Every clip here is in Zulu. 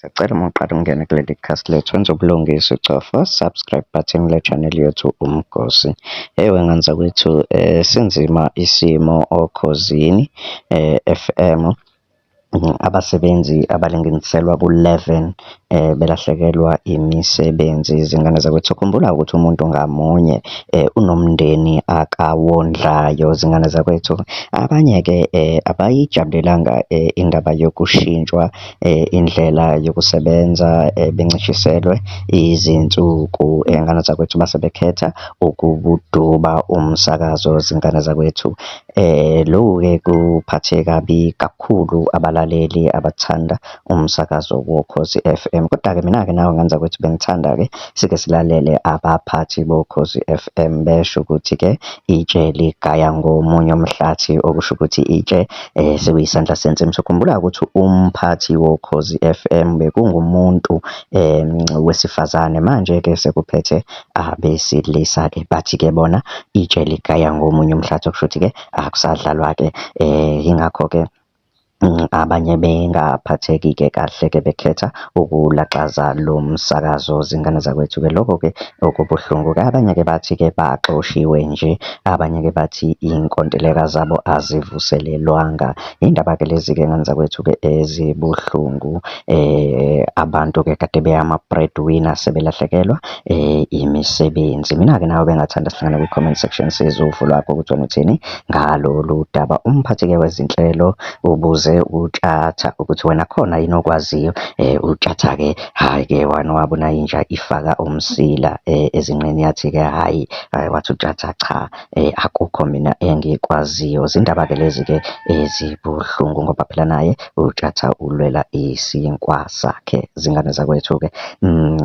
Sacela uma uqala ukungena kuleli khasi lethu wenza ubulungisa ucofa subscribe button le channel yethu uMgosi. Hey wengane zakwethu eh sinzima isimo okhozini eh FM abasebenzi abalinganiselwa ku-11 eh belahlekelwa imisebenzi izingane zakwethu khumbula ukuthi umuntu ngamunye eh unomndeni akawondlayo izingane zakwethu abanye ke eh abayijabulelanga eh, indaba yokushintshwa indlela yokusebenza bencishiselwe izinsuku. Ngane zakwethu uma sebekhetha ukuduba umsakazo zingane zakwethu. Loku-ke kuphathe kabi kakhulu abalaleli abathanda umsakazo woKhozi F_M. Koda-ke mina-ke nawe ngane zakwethu bengithanda-ke sike silalele abaphathi boKhozi F_M besho ukuthi-ke itshe ligaya ngomunye umhlathi, okusho ukuthi itshe. sekuyisandla sensi. Ngisokhumbula ukuthi umphathi woKhozi F_M bekungumuntu wesifazane. Manje-ke sekuphethe abesilisa-ke, bathi-ke bona itshe ligaya ngomunye umhlathi, okushuthi-ke akusadlalwa-ke. Yingakho-ke abanye bengaphatheki-ke kahle-ke bekhetha ukulaxaza lo msakazo zingane zakwethu-ke. Lokho-ke okubuhlungu-ke. Abanye-ke bathi-ke baxoshiwe nje, abanye-ke bathi iy'nkontileka zabo azivuselelwanga. Iy'ndaba-ke lezi-ke ngane zakwethu-ke ezibuhlungu. Abantu-ke kade beyama-bread winner sebelahlekelwa imisebenzi. Mina-ke nawe bengathanda sihlangane kwi-comment section sizwe uvo lwakho ukuthi wena uthini ngalolu daba. Umphathi-ke wezinhlelo ubuze uTshatha ukuthi wena khona yini okwaziyo. UTshatha-ke hhayi-ke one wabona inja ifaka umsila ezinqeni yathi-ke hhayi, wathi uTshatha cha akukho mina engikwaziyo. Zindaba-ke lezi-ke ezibuhlungu ngoba phela naye uTshatha ulwela isinkwa sakhe. Zingane zakwethu-ke mm,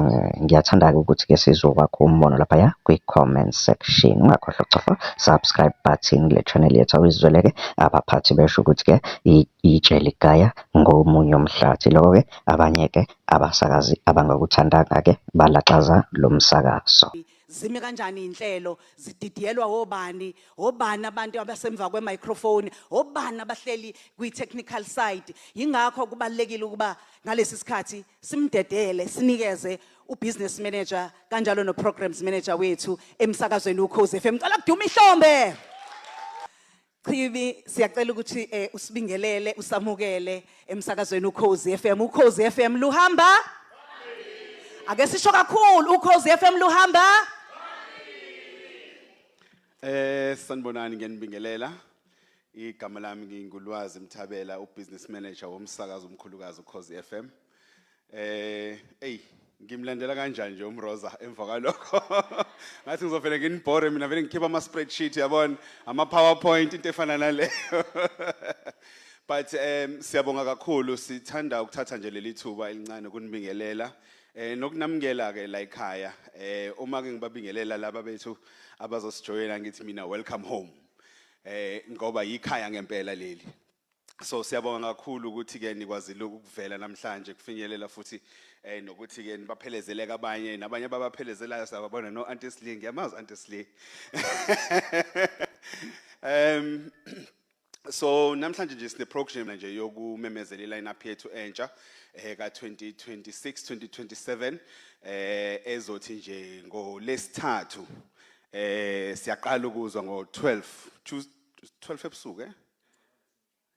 ngiyathanda-ke ukuthi-ke sizokwakha umbono laphaya kwi-comment section. Ungakhohlwa ukucofa subscribe button kule channel yethu awuyizweleke. abaphathi besho ukuthi-ke itshe ligaya ngomunye umhlathi. Loko-ke abanye-ke abasakazi abangakuthandanga-ke balaxaza lo msakazo. Zime kanjani izinhlelo? Zididiyelwa obani? Obani abantu abasemva kwe-microphone? Obani abahleli kwi-technical side? Yingakho kubalulekile ukuba ngalesi sikhathi simdedele, sinikeze u-business manager kanjalo no-programs manager wethu emsakazweni uKhozi FM. Ngicela kudume ihlombe. Chibi siyacela ukuthi eh, usibingelele usamukele emsakazweni uKhozi FM uKhozi FM luhamba Ake sisho kakhulu uKhozi FM luhamba Eh sanibonani ngiyanibingelela igama lami ngingulwazi Mthabela ubusiness manager womsakazo omkhulukazi uKhozi FM Eh, ey, ngimlandela kanjani nje uMroza emva kwalokho. Ngathi ngizovele nginibhore mina vele ngikhipha ama spreadsheet yabona, ama PowerPoint into efana naleyo. But um siyabonga kakhulu sithanda ukuthatha nje leli thuba elincane kunibingelela eh nokunamukela ke la ekhaya eh uma ke ngibabingelela laba bethu abazosijoyina ngithi mina welcome home eh ngoba yikhaya ngempela leli so siyabonga kakhulu ukuthi ke nikwazile ukuvela namhlanje kufinyelela futhi eh nokuthi ke nibaphelezeleka abanye nabanye babaphelezelayo sababona no Auntie Sling yamazi Auntie Sling um so namhlanje nje sine program nje yokumemezela ilineup yethu entsha eh ka 2026 2027 eh ezothi nje ngolesithathu eh siyaqala ukuzwa ngo 12 12 ebusuku eh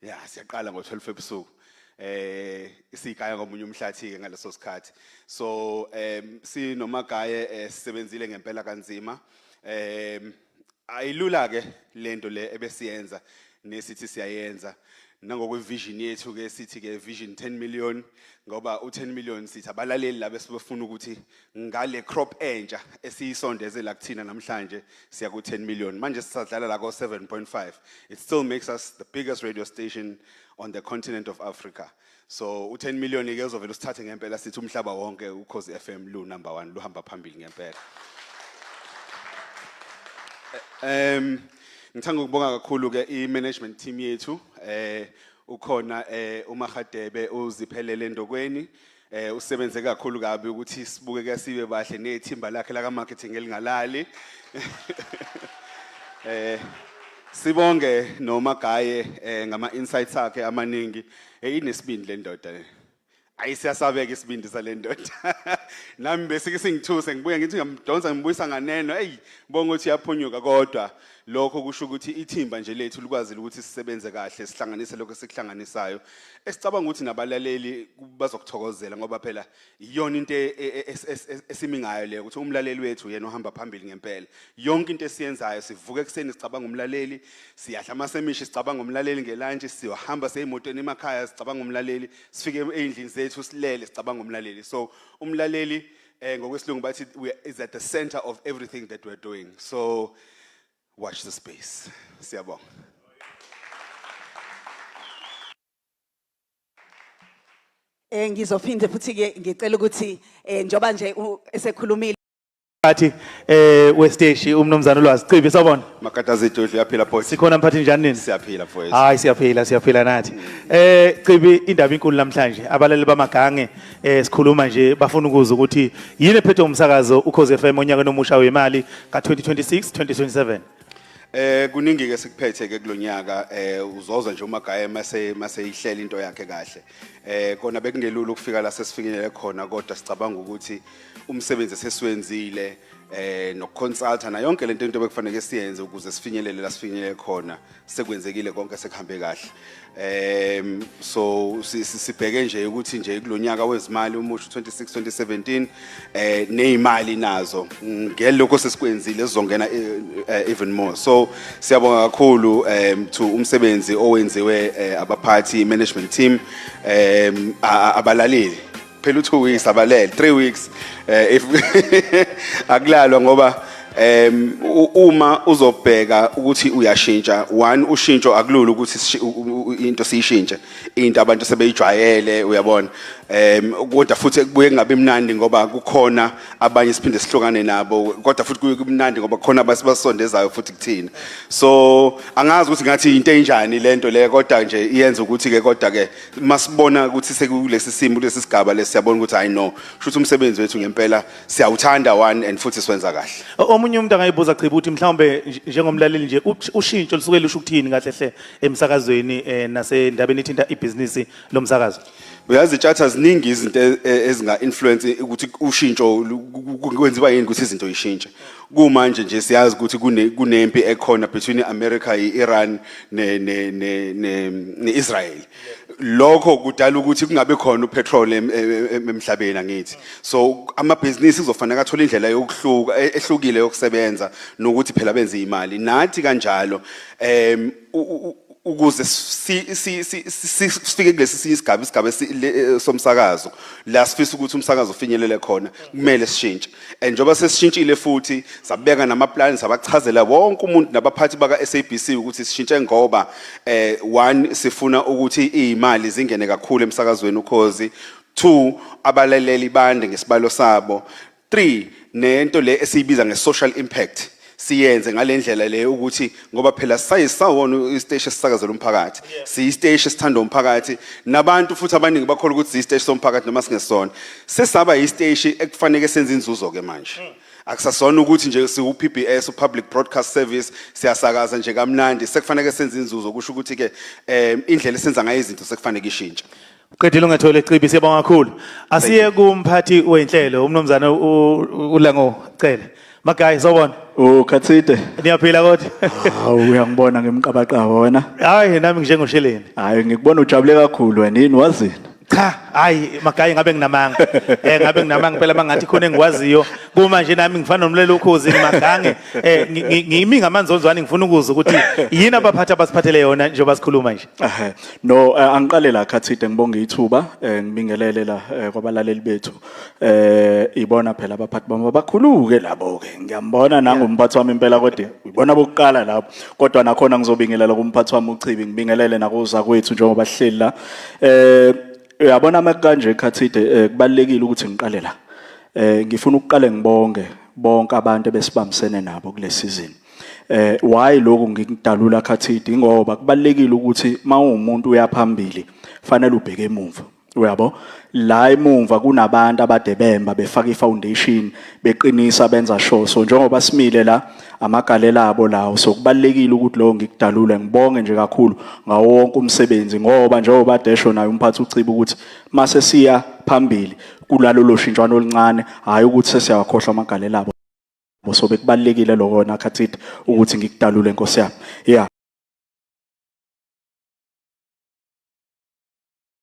ya siyaqala ngo-12 ebusuku eh isigaya ngomunye umhlathi ke ngaleso sikhathi so em sinomagaye eh, sisebenzile ngempela kanzima em ayilula ke lento le ebesiyenza nesithi siyayenza nangokwevision yethu ke sithi ke vision 10 million ngoba u10 million sithi abalaleli laba esibefuna ukuthi ngale crop entsha esiyisondezela kuthina namhlanje siya ku 10 million manje sisadlala la ko 7.5 it still makes us the biggest radio station on the continent of Africa so u 10 million ke uzovela usithathe ngempela sithi umhlaba wonke ukhozi FM lu number 1 luhamba phambili ngempela um ngithanda ukubonga kakhulu ke i management team yethu eh ukhona eh uMagadebe uziphelele ndokweni Eh usebenze kakhulu kabi ukuthi sibukeke sibe bahle nethimba lakhe laka marketing elingalali. Eh sibonge noma gaye eh, ngama insights akhe amaningi. Eh inesibindi le ndoda. eh. Ayi siyasabeka isibindi sale ndoda. Nami besike singithuse ngibuye ngithi ngiyamdonsa ngibuyisa nganeno. Ey bonga ukuthi yaphunyuka kodwa lokho kusho ukuthi ithimba nje lethu likwazile ukuthi sisebenze kahle sihlanganise lokho esikuhlanganisayo. esicabanga ukuthi nabalaleli bazokuthokozela ngoba phela iyona into e- e- e- es- es- es- esimi ngayo leyo ukuthi umlaleli wethu yena ohamba phambili ngempela yonke into esiyenzayo sivuka ekuseni sicabanga umlaleli siyadla amasemishi sicabanga umlaleli ngelantshi siyohamba seyimotweni emakhaya sicabanga umlaleli sifike ey'ndlini zethu silele sicabanga umlaleli so umlaleli um ngokwesilungu bathi we is at the center of everything that we're doing so Watch the space. Siyabonga. Eh ngizophinde futhi ke ngicela ukuthi eh njoba nje u- esekhulumile Phathi eh westeshi umnumzane ulwazi Cibi sawubona. Makata zidudlu yaphila boy. Sikhona mphathi njani nini? Siyaphila boy. Hayi siyaphila siyaphila nathi. Eh Cibi indaba inkulu namhlanje abalali bamagange eh sikhuluma nje bafuna ukuza ukuthi yini ephethe umsakazo ukhoze FM onyakeni omusha wemali ka-2026 2027 Eh kuningi ke sikuphethe ke kulonyaka eh uzoza nje umagaya mase mase ihlela into yakhe kahle. Eh kona bekungelula ukufika la sesifinyelele khona kodwa sicabanga ukuthi umsebenzi sesiwenzile eh nokuconsulta na yonke lento into bekufanele siyenze ukuze sifinyelele la sifinyelele khona. sekwenzekile konke sekuhambe kahle um so si- si- sibheke nje ukuthi nje kulo nyaka wezimali umusho 26 2017 eh nezimali nazo ngelokho sesikwenzile sizongena eh, eh, even more so siyabonga kakhulu um to umsebenzi owenziwe eh, abaphathi management team um a- a- abalaleli phela u2 weeks abalele 3 weeks eh if akulalwa ngoba em u- uma uzobheka ukuthi uyashintsha one ushintsho akulula ukuthi sishi- u- u- u- into siyishintshe into abantu sebeyijwayele uyabona em kodwa futhi kubuye kungabi mnandi ngoba kukhona abanye siphinde sihlukane nabo kodwa futhi kuye kumnandi ngoba kukhona abasibasondezayo futhi kuthina so angazi ukuthi ngathi into enjani lento le kodwa nje iyenza ukuthi ke kodwa ke masibona ukuthi sekulesi simo kulesi sigaba lesi siyabona ukuthi hayi no shuthi umsebenzi wethu ngempela siyawuthanda one and futhi siwenza kahle O- omunye umuntu angayibuza chiba ukuthi mhlawumbe nj- njengomlaleli nje ush- ushintsho lusuke lusho ukuthini kahle hle emsakazweni eh, nasendabeni ethinta ibhizinisi lomsakazo uyazi itshatha ziningi izinto e- e- ezinga-influence ukuthi ushintsho lu- ku- ku- kwenziwa yini ukuthi izinto yishintshe Kumanje nje siyazi ukuthi kune kunempi ekhona between iAmerica iIran ne ne ne ne neIsrael. Lokho kudala ukuthi kungabe khona upetrol em- em- em- emhlabeni angithi. So amabhizinisi kuzofanele athole indlela yokuhluka e- ehlukile yokusebenza nokuthi phela benze imali. Nathi kanjalo em ukuze sifike kulesi sinye isigaba isigaba eh, somsakazo la sifisa ukuthi umsakazo ufinyelele khona kumele sishintshe and njengoba sesishintshile futhi sabeka namaplani sabachazela wonke umuntu nabaphathi baka-sabc ukuthi sishintshe ngoba eh one sifuna ukuthi iy'mali zingene kakhulu emsakazweni ukhozi two abalaleli bande ngesibalo sabo Three, nento le esiyibiza nge-social impact siyenze ngale ndlela le ukuthi ngoba phela sisaye sisawona isiteshi esisakazela umphakathi siyisiteshi esithandwa umphakathi nabantu futhi abaningi bakholwa ukuthi siyisiteshi somphakathi noma singesona sesaba yisiteshi ekufaneke senze inzuzo-ke manje mm. akusasona ukuthi nje siwu-PBS u-Public Broadcast Service siyasakaza nje kamnandi sekufanele senze inzuzo kusho ukuthi-ke um indlela esenza ngayo izinto sekufanele ishintshe Qedile ungathole icibi siyabonga kakhulu. Asiye kumphathi wenhlelo umnumzane uLango cele. Ma guys sawubona. Ukhathide. Niyaphila kodwa? Hawu uyangibona ngimqabaqaba wena. Hayi nami njengoshileni. Hayi ngikubona ujabule kakhulu wena yini wazini? cha hayi magayi ngabe nginamanga eh ngabe nginamanga phela mangathi khona engikwaziyo kuma nje nami ngifana nomlelo ukhozi magange eh ngimi ngamanzonzwane ngifuna ukuza ukuthi yini abaphathi abasiphathele yona njengoba sikhuluma nje Ehhe. No, eh, angiqale la Khathide ngibonga ithuba, eh, ngibingelele la eh, kwabalaleli bethu. Eh, ibona phela abaphathi bami abakhuluke labo ke. Ngiyambona nangu umphathi wami impela kodwa ibona bokuqala lapho. Kodwa nakhona ngizobingelela kumphathi wami uChibi, ngibingelele nakuza kwethu njengoba sihleli la. Eh, uyabona ama kanje Khathide eh, kubalekile ukuthi ngiqale la. Eh, ngifuna ukuqale ngibonge bonke abantu ebesibambisene nabo kule season. Eh why lokhu ngikudalula khathidi ngoba kubalekile ukuthi mawumuntu uyaphambili fanele ubheke emuva. Uyabo? La emuva kunabantu abadebemba befaka ifoundation beqinisa benza sure. So njengoba simile la amagalela abo lawo so kubalekile ukuthi lo ngikudalule ngibonge nje kakhulu ngawo wonke umsebenzi ngoba njengoba desho naye umphathi uciba ukuthi mase siya phambili kulalolo shintshwana oluncane hayi ukuthi sesiyawakhohlwa amagalela abo. So bekubalekile lokho wena khathi ukuthi ngikudalule Nkosi yami. Yeah.